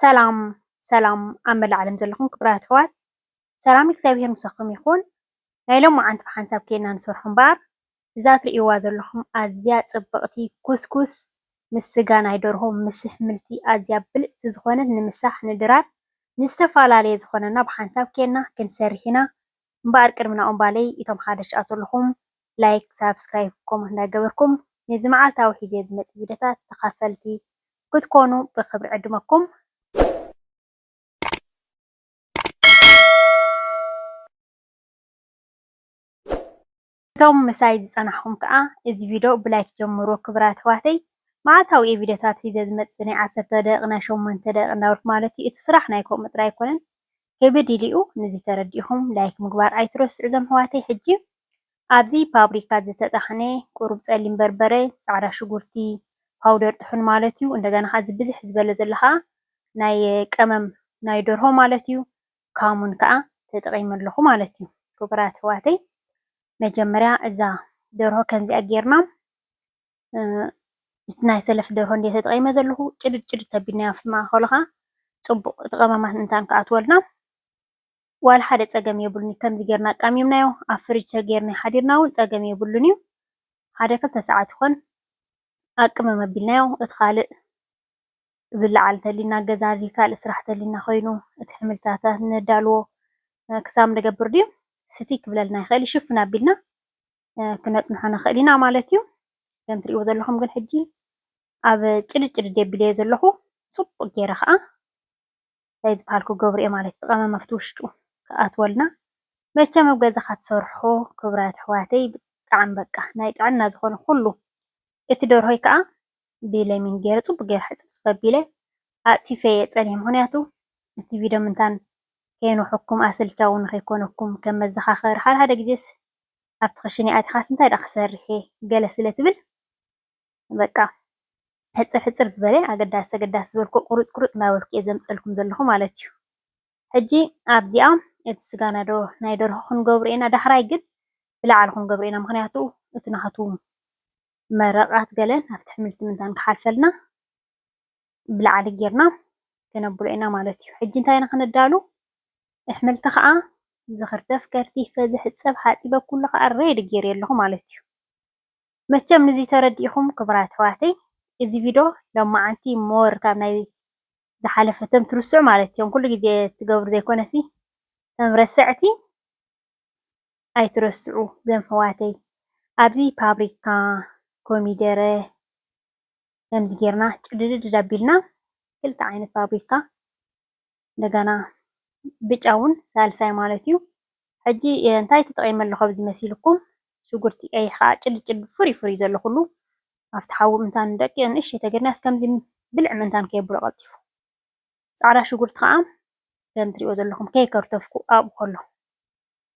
ሰላም ሰላም ኣብ መላእ ዓለም ዘለኹም ክብራት ኣሕዋት ሰላም እግዚኣብሔር ምሳኹም ይኹን። ናይ ሎምዓንቲ ብሓንሳብ ኬድና ንሰርሖ እምበኣር እዛ እትርእይዋ ዘለኹም ኣዝያ ጽብቕቲ ኩስኩስ ምስ ስጋ ናይ ደርሆ ምስ ኣሕምልቲ ኣዝያ ብልጽቲ ዝኾነት ንምሳሕ ንድራር ንዝተፈላለየ ዝኾነና ብሓንሳብ ኬድና ክንሰርሕ ኢና። እምበኣር ቅድሚ ናኦም ባለይ እቶም ሓደ ሽኣ ዘለኹም ላይክ ሳብስክራይብ ኮመንት እንዳገበርኩም ነዚ መዓልታዊ ሒዜ ዝመጽእ ቪድዮታት ተኻፈልቲ ክትኮኑ ብኽብሪ ዕድመኩም። እቶም ምሳይ ዝጸናሕኩም ከኣ እዚ ቪድዮ ብላይክ ጀምርዎ ክብራት ኣሕዋተይ መዓልታዊ እየ ቪድዮታት ሒዘ ዝመጽእ ናይ ዓሰርተ ደቂቅ ናይ ሸሞንተ ደቂቅ እንዳበልኩ ማለት እዩ እቲ ስራሕ ናይ ከምኡ ጥራይ ኣይኮነን ክብድ ኢሉ'ዩ ንዚ ተረዲእኹም ላይክ ምግባር ኣይትረስዑ ዘምሕዋተይ ሕጂ ኣብዚ ፓብሪካ ዝተጣሕነ ቁሩብ ጸሊም በርበረ ጻዕዳ ሽጉርቲ ፓውደር ጥሑን ማለት'ዩ እንደገና ከኣ እዚ ብዝሕ ዝበለ ዘሎ ከኣ ናይ ቀመም ናይ ደርሆ ማለት'ዩ ካሙን ከኣ ተጠቂመ ኣለኹ ማለት'ዩ ክቡራት ኣሕዋተይ መጀመርያ እዛ ደርሆ ከምዚኣ ጌርና እቲ ናይ ሰለፍ ደርሆ እንድየ ተጠቒመ ዘለኹ ጭድድ ጭድድ ተቢልና ኣብቲ ማእኸሉ ኸኣ ጽቡቕ እቲ ቀመማት ምእንታን ክኣትወልና ዋላ ሓደ ጸገም የብሉን እዩ። ከምዚ ጌርና ኣቃሚምናዮ ኣብ ፍርጅ ተጌርንዮ ሓዲርና ውን ጸገም የብሉን እዩ። ሓደ ክልተ ሰዓት ይኾን ኣቅምም ኣቢልናዮ እቲ ኻልእ ዝለዓል እንተልዩና ገዛ ድዩ ካልእ ስራሕ እንተልዩና ኮይኑ እቲ ሕምልታታ ነዳልዎ ክሳብ ንገብር ድዩ ስቲ ክብለልና ይኽእል እዩ። ሽፍን ኣቢልና ክነፅንሖ ንኽእል ኢና ማለት እዩ። ከም እትሪእዎ ዘለኹም ግን ሕጂ ኣብ ጭልጥ ጭልጥ የቢለ እየ ዘለኹ። ፅቡቕ ገይረ ከዓ እንታይ ዝበሃል ክገብሮ እየ ማለት እዩ። እቲ ቀመም ኣብቲ ውሽጡ ክኣትወልና መቸም ኣብ ገዛኻ ትሰርሖ ክቡራት ኣሕዋተይ ብጣዕሚ በቃ ናይ ጥዕና ዝኾነ ኩሉ እቲ ደርሆይ ከዓ ብለሚን ገይረ ፅቡቕ ገይረ ሕፅብፅብ ኣቢለ ኣፅፊፈ እየ ፀኒሐ። ምኽንያቱ እቲ ቪድዮ ምንታን ከይንውሐኩም ኣሰልቻዊ ንኸይኮነኩም ከም መዘኻኸሪ ሓደ ሓደ ግዜስ ኣብቲ ክሽነ ኣቲኻስ እንታይ ደኣ ክሰርሕ'የ ገለ ስለ ትብል በቃ ሕጽር ሕጽር ዝበለ ኣገዳሲ ኣገዳሲ ዝበልክዎ ቁሩጽ ቁሩጽ እንዳበልኩ'የ ዘምጸልኩም ዘለኹ ማለት'ዩ። ሕጂ ኣብዚኣ እቲ ስጋና ዶ ናይ ደርሆ ክንገብሮ ኢና ዳሕራይ ግን ብላዕሊ ክንገብሮ ኢና ምኽንያቱ እቲ ናቱ መረቓት ገለን ኣብቲ ሕምልቲ ምንታን ክሓልፈልና። ብላዕሊ ጌርና ክነብሎ ኢና ማለት እዩ። ሕጂ እንታይ ኢና ክነዳሉ? ኣሕምልቲ ከዓ ዝኽርተፍ ከርቲፈ፣ ዝሕጸብ ሓጺበ ኩሉ ከዓ ሬዲ ጌረዮ ኣለኹ ማለት እዩ። መቸም ንዚ ተረዲእኹም ክቡራት ኣሕዋተይ እዚ ቪዶ ሎማዓንቲ ሞር ካብ ናይ ዝሓለፈ ተም ትርስዑ ማለት እዮም ኩሉ ግዜ ትገብሩ ዘይኮነሲ ተም ረሰዕቲ ኣይትረስዑ ዘም ኣሕዋተይ ኣብዚ ፓብሪካ፣ ኮሚደረ፣ ከምዚ ጌርና ጭድድድድ ኣቢልና ክልተ ዓይነት ፋብሪካ እንደገና ብጫ እውን ሳልሳይ ማለት እዩ። ሕጂ እንታይ ተጠቒመ ኣለኹ ኣብዚ መሲልኩም ሽጉርቲ ቀይሕ ከዓ ጭልጥ ጭልጥ ፍሩይ ፍሩይ ዘሎ ኩሉ ኣብቲ ሓዊ ምእንታን ደቂ ንእሽተይ ተገድና ከምዚ ብልዕ ምእንታን ከየብሎ ቀልጢፉ ፃዕዳ ሽጉርቲ ከዓ ከም ትሪእዎ ዘለኹም ከይከርተፍኩ ኣብኡ ከሎ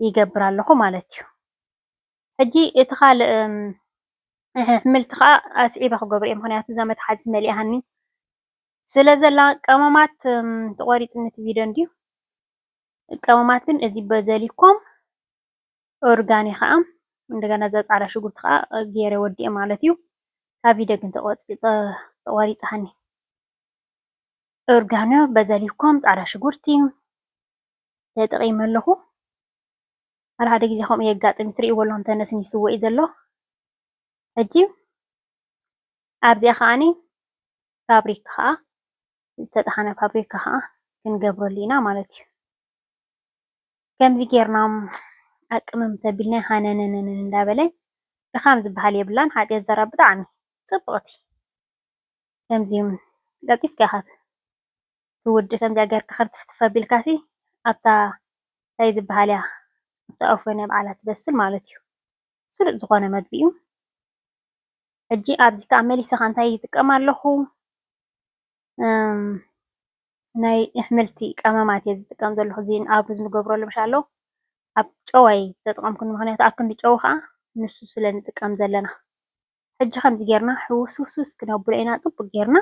ይገብር ኣለኹ ማለት እዩ። ሕጂ እቲ ካልእ ኣሕምልቲ ከኣ ኣስዒበ ክገብሮ እየ ምክንያቱ እዛ መትሓዚት መሊኣትኒ ስለ ዘላ ቀመማት ተቆሪጽኒ እቲ ቪድዮ እንድዩ ቀመማት ግን እዚ በዘሊኮም ኦርጋኒ ከኣ እንደገና እዛ ጻዕዳ ሽጉርቲ ከኣ ገይረ ወዲኤ ማለት እዩ ካብ ቪድዮ ግን ተቆሪጽሃኒ ኦርጋኖ በዘሊኮም ጻዕዳ ሽጉርቲ ተጠቒመ ኣለኹ። ሓደ ሓደ ግዜ ከምኡ የጋጥም እዩ ትሪእዎ ኣለኹም ተነስኒስዎ እዩ ዘሎ። ሕጂ ኣብዚኣ ከዓኒ ፋብሪካ ከዓ ዝተጠሓነ ፋብሪካ ከዓ ክንገብረሉ ኢና ማለት እዩ። ከምዚ ጌርና ኣቅምም ተቢልና ሃነነነነ እንዳበለ ድኻም ዝበሃል የብላን ሓጢኣት ዘራ ብጣዕሚ ፅብቕቲ ከምዚ ቀልጢፍካ ኢኻ እቲ ወዲ ከምዚኣ ጌርካ ክትፍትፍ ኣቢልካሲ ኣብታ ታይ ዝብሃል እያ ኣብታ ኦቨን እያ ባዕላ ትበስል ማለት እዩ ስሉጥ ዝኾነ መግቢ እዩ ሕጂ ኣብዚ ከዓ መሊሰ ከዓ እንታይ ይጥቀም ኣለኹ ናይ ኣሕምልቲ ቀመማት እየ ዝጥቀም ዘለኹ እዚ ኣብ ሩዝ ንገብረሉ ምሻ ኣሎ ኣብ ጨዋይ ዝተጠቐምኩን ምክንያቱ ኣብ ክንዲ ጨው ከዓ ንሱ ስለ ንጥቀም ዘለና ሕጂ ከምዚ ጌርና ሕውስውስውስ ክነብሎ ኢና ፅቡቅ ጌርና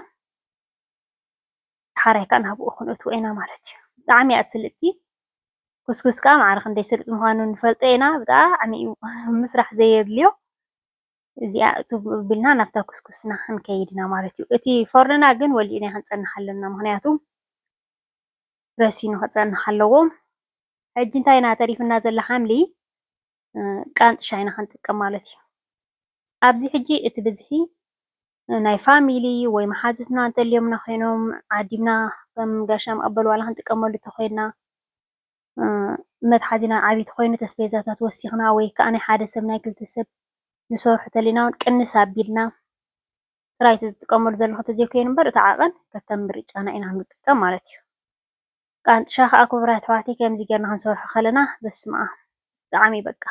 ዳሓራይ ካኣ ናብኡ ክንእትዎ ኢና ማለት እዩ። ብጣዕሚ እያ ስልጥቲ ኩስኩስ ካኣ ማዕረ ክንደይ ስልጡን ምኳኑ ንፈልጦ ኢና ብጣዕሚ እዩ ምስራሕ ዘየድልዮ እዚኣ እትው ኣቢልና ናብታ ኩስኩስና ክንከይድ ኢና ማለት እዩ። እቲ ፎርኖና ግን ወሊዕና ክንጸንሕ ኣለና ምክንያቱ ረሲኑ ክጸንሕ ኣለዎ። ሕጂ እንታይ ኢና ተሪፍና ዘሎ ሓምሊ ቃንጥሻ ኢና ክንጥቀም ማለት እዩ። ኣብዚ ሕጂ እቲ ብዝሒ ናይ ፋሚሊ ወይ መሓዙትና እንተልዮምና ኮይኖም ዓዲምና ከም ጋሻ መቐበሊ ዋላ ክንጥቀመሉ እንተኾይንና መትሓዚና ዓብዪ እንተኾይኑ እቲ ኣስቤዛታት ወሲኽና ወይ ከዓ ናይ ሓደ ሰብ ናይ ክልተ ሰብ ንሰርሖ እንተሊና እውን ቅንስ ኣቢልና ጥራይ እቲ ዝጥቀመሉ ዘለኹ እንተዘይኮይኑ እምበር እቲ ዓቐን ከከም ምርጫና ኢና ንጥቀም ማለት እዩ። ቃንጥሻ ከኣ ኩቡራት ኣሕዋተይ ከምዚ ገርና ክንሰርሖ ከለና በስመኣም ብጣዕሚ በቃ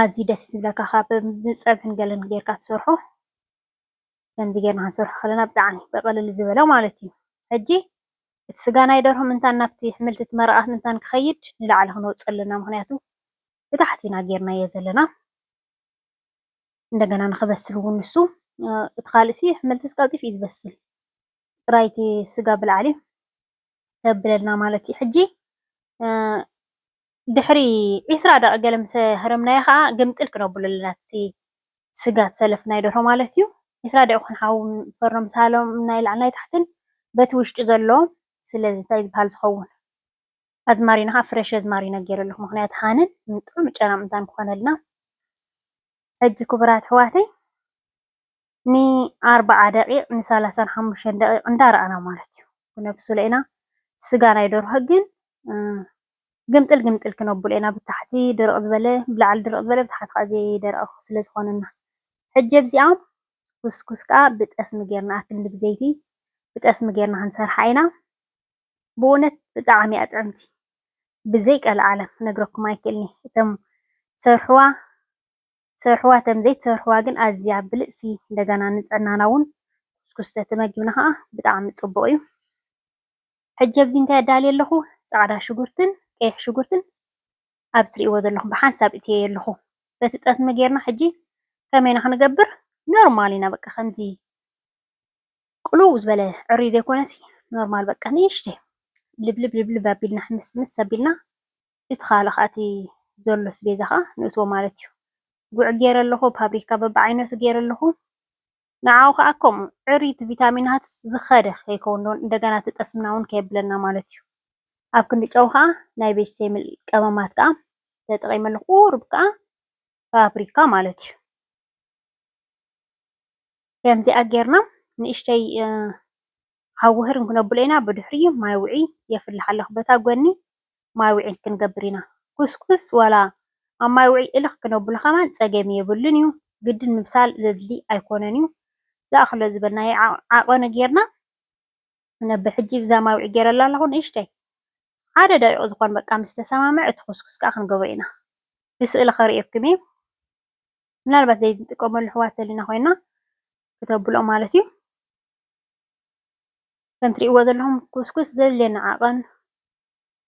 ኣዝዩ ደስ ዝብለካ ካብ ብጸብሕን ገለን ገርካ ትሰርሖ ከምዚ ገርና ክንሰርሖ ከለና ብጣዕሚ ብቅልል ዝበለ ማለት እዩ ሕጂ እቲ ስጋ ናይ ደርሆ ምንታን ናብቲ ሕምልቲ እቲ መረቃት ምንታን ክኸይድ ንላዕሊ ክንወጾ ኣለና ምክንያቱ ብታሕቲ ኢና ገርናዮ ዘለና እንደገና ንኽበስል እውን ንሱ እቲ ካልእሲ ኣሕምልትስ ቀልጢፉ እዩ ዝበስል ጥራይ እቲ ስጋ ብላዕሊ ተብለልና ማለት እዩ ሕጂ ድሕሪ ዒስራ ደቂ ገለ ምስ ሃረምናዮ ከዓ ግምጥል ክነብሎ ኣለና እቲ ስጋ ዝሰለፍናዮ ደርሆ ማለት እዩ ዒስራ ደቂ ኮን ሓዊ ፈርኖ ምስ ሃለምና ይላዕል ናይ ታሕትን በቲ ውሽጢ ዘሎ ስለዚ እንታይ ዝበሃል ዝኸውን ኣዝማሪኖ ከኣ ፍረሽ ኣዝማሪኖ ጌረ ኣለኩ ምክንያቱ ሃነን ጥዑም ጨናን ምንታን ክኮነልና ሕጂ ክቡራት ኣሕዋተይ ን ኣርብዓ ደቂቅ ን ሰላሳን ሓሙሽተን ደቂቅ እንዳ ረኣና ማለት እዩ ክነብስሎ ኢና ስጋ ናይ ደርሆ ግን ግምጥል ግምጥል ክነብሎ ኢና ብታሕቲ ድርቅ ዝበለ ብላዕሊ ድርቅ ዝበለ ብታሕቲ ከኣ ዘይደረቀ ስለ ዝኮነና ሕጂ ኣብዚኣ ኩስኩስ ከኣ ብጠስሚ ጌርና ኣክንዲ ብዘይቲ ብጠስሚ ጌርና ክንሰርሓ ኢና ብኡነት ብጣዕሚ እያ ጥዕምቲ ብዘይ ቀልዓለም ክነግረኩም ኣይክእልንየ እተም ትሰርሕዋ ትሰርሕዋ እተም ዘይትሰርሕዋ ግን ኣዝያ ብልጽቲ እንደገና ንጥዕናና ውን ኩስኩስ ተተመጊብና ከኣ ብጣዕሚ ጽቡቅ እዩ ሕጂ ኣብዚ እንታይ ኣዳልየ ኣለኩ ጻዕዳ ሽጉርትን ቀይሕ ሽጉርትን ኣብዚ ትርእይዎ ዘለኩም ብሓንሳብ እትየዮ ኣለኩ በቲ ጠስሚ ጌርና ሕጂ ከመይ ኢና ክንገብር ኖርማል ኢና በቃ ከምዚ ቅልው ዝበለ ዕርዩ ዘይኮነሲ ኖርማል በቃ ንእሽተይ ልብልብ ልብልብ ኣቢልና ምስ ምስ ኣቢልና እቲ ካልእ ከዓ እቲ ዘሎ ስቤዛ ከዓ ንእትዎ ማለት እዩ። ጉዕ ገይረ ኣለኹ፣ ፓብሪካ በብዓይነቱ ገይረ ኣለኹ። ንዓኡ ከዓ ከምኡ ዕርዩ እቲ ቪታሚናት ዝኸደ ከይከውን ዶ እንደገና እቲ ጠስምና እውን ከየብለና ማለት እዩ። ኣብ ክንዲ ጨው ከዓ ናይ ቬጅቴብል ቀመማት ከዓ ተጠቒመ ኣለኹ፣ ቁሩብ ከዓ ፓብሪካ ማለት እዩ። ከምዚኣ ጌርና ንእሽተይ ሃው ውህር ክነብሎ ኢና ብድሕሪኡ ማይ ውዒ የፍልሕ ኣሎ በታ ጎኒ ማይ ውዒ ክንገብር ኢና ኩስኩስ ዋላ ኣብ ማይ ውዒ እልኽ ክነብሎ ከማን ጸገም የብሉን እዩ ግድን ምብሳል ዘድሊ ኣይኮነን እዩ ዝኣክሎ ዝበልናዮ ዓቀኑ ጌርና ክነብር ሕጂ ብዛ ማይ ውዒ ጌረላ ኣለኹ ንእሽተይ ሓደ ደቂቅ ዝኾን በቃ ምስ ተሰማምዐ እቲ ኩስኩስ ከኣ ክንገብሮ ኢና ብስእሊ ከርእየኩም እየ ምናልባት ዘይንጥቀመሉ ኣሕዋት እንተሊና ኮይና ክተብልዖ ማለት እዩ። ከምቲ ትሪእዎ ዘለኹም ኩስኩስ ዘድልየኒ ዓቐን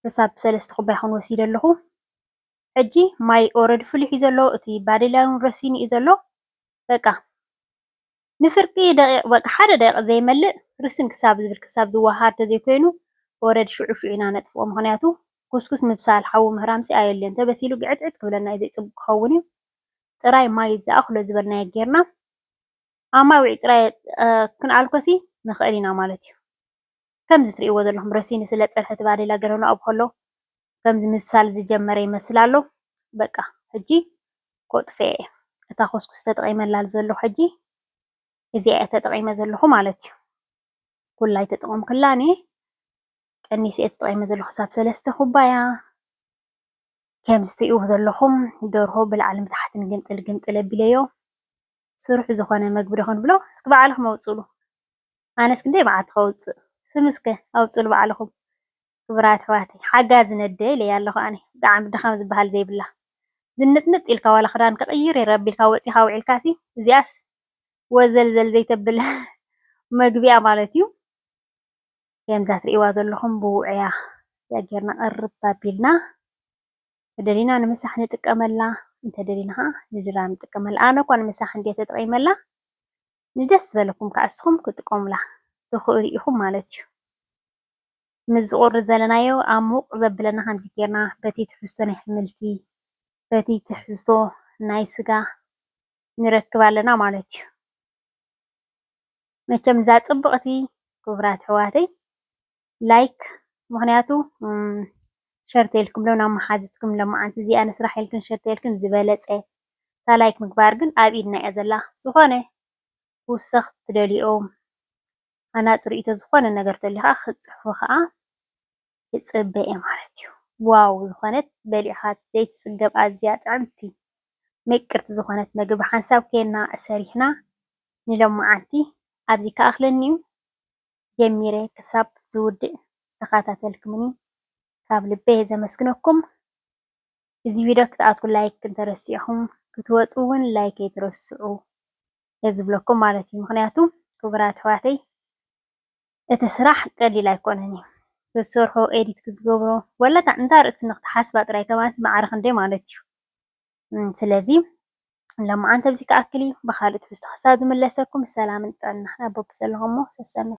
ክሳብ ሰለስተ ኩባያ ይኸውን ወሲደ ኣለኹ። ሕጂ ማይ ኦረዲ ፍሊሑ እዩ ዘሎ እቲ ባዴላ ውን ረሲኑ እዩ ዘሎ በቃ ንፍርቂ ደቒቕ በቃ ሓደ ደቒቕ ዘይመልእ ርስን ክሳብ ዝብል ክሳብ ዝወሃሃድ ተዘይኮይኑ ወረድ ሽዑ ሽዑ ኢና ነጥፍኦ ምኽንያቱ ጉስጉስ ምብሳል ሓዊ ምህራምሲ ኣየድልዮን ተበሲሉ ግዕትዕት ክብለና እዩ ዘይጽቡቕ ክኸውን እዩ ጥራይ ማይ ዝኣኽሎ ዝበልናዮ ጌርና ኣማዊዒ ጥራይ ክንኣልኮሲ ንኽእል ኢና ማለት እዩ። ከምዚ ትሪእዎ ዘለኹም ረሲኑ ስለ ዝፀንሐ እቲ ባዴላ ገለ ንኡ ከሎ ከምዚ ምብሳል ዝጀመረ ይመስል ኣሎ በቃ ሕጂ ኮጥፍኤ እየ እታ ኮስኩስ ተጠቒመላ ዘለኹ ሕጂ እዚኣ እየ ተጠቒመ ዘለኹ ማለት እዩ ኩላ ኣይተጠቐምኩላን እየ ቀኒሰ እየ ተጠቒመ ዘለኹ ክሳብ ሰለስተ ኩባያ ከምዚ ትሪእዎ ዘለኹም ደርሆ ብላዕልን ብታሕትን ግምጥል ግምጥል ኣቢለዮ ስሩሕ ዝኾነ መግቢ ዶ ክንብሎ እስኪ ባዕልኹም ኣውጽእሉ ኣነስ ክንደይ መዓልቲ ከውጽእ ስም እስከ ኣውጽእሉ ባዕልኹም ክቡራት ኣሕዋተይ ሓጋዚ ነደይ ኢለያ ኣለኹ ኣነ ብጣዕሚ ድኻም ዝብሃል ዘይብላ ዝንጥንጥ ኢልካ ዋላ ክዳን ክቕይር ይረብ ኢልካ ወጺኻ ውዒልካሲ እዚኣስ ወዘልዘል ዘይተብል መግቢ'ያ ማለት'ዩ ከምዛ ትርእይዋ ዘለኹም ብውዑያ እዚኣ ጌርና ቅርብ ኣቢልና ተደሊና ንምሳሕ ንጥቀመላ እንተደሊና ከኣ ንድራር ንጥቀመላ ኣነ እኳ ንምሳሕ እንድየ ተጠቂመላ ንደስ ዝበለኩም ከኣ ንስኩም ክትጥቀሙላ ትክእሉ ኢኩም ማለት እዩ ምስዚ ቁሪ ዘለናዮ ኣብ ሙቅ ዘብለና ከምዚ ጌርና በቲ ትሕዝቶ ናይ ኣሕምልቲ በቲ ትሕዝቶ ናይ ስጋ ንረክብ ኣለና ማለት እዩ መቸም እዛ ጽብቅቲ ክቡራት ኣሕዋተይ ላይክ ምክንያቱ ሸር ተልክም ሎ ናብ መሓዝትክም ለማዓንቲ እዚኣ ንስራሕ ኢልክን ሸር ተልክን ዝበለፀ እታ ላይክ ምግባር ግን ኣብ ኢድና እያ ዘላ ዝኮነ ክውሰክ ትደልዩኦም ሃናፂ ሪኢቶ ዝኮነ ነገር ተልዩ ካዓ ክትፅሕፉ ካዓ ይፅበ እየ ማለት እዩ ዋው ዝኮነት በሊዕካ ዘይትፅገብ ኣዝያ ጥዕምቲ ምቅርቲ ዝኮነት ምግቢ ብሓንሳብ ኬና ሰሪሕና ንለማዓንቲ ኣብዚ ክኣክለኒ እዩ። ጀሚረ ክሳብ ዝውድእ ዝተከታተልክምኒ ካብ ልበይ ዘመስግነኩም እዚ ቪድዮ ክትኣትዉ ላይክ እንተረሲዕኩም ክትወጹ ውን ላይክ ኣይትረስዑ እየ ዝብለኩም ማለት እዩ ምክንያቱ ክቡራት ኣሕዋተይ እቲ ስራሕ ቀሊል ኣይኮነን እዩ ክትሰርሖ ኤዲት ክትገብሮ ወላ እታ እንታ ርእሲ ንክትሓስባ ጥራይ ከማንስ ማዕረ ክንደይ ማለት እዩ ስለዚ ለማዓንቲ ኣብዚ ክኣክል እዩ ብካልእ ትሕዝቶ ክሳብ ዝምለሰኩም ሰላምን ጥዕናን ኣብ በብዘለኹሞ ሰሰኑ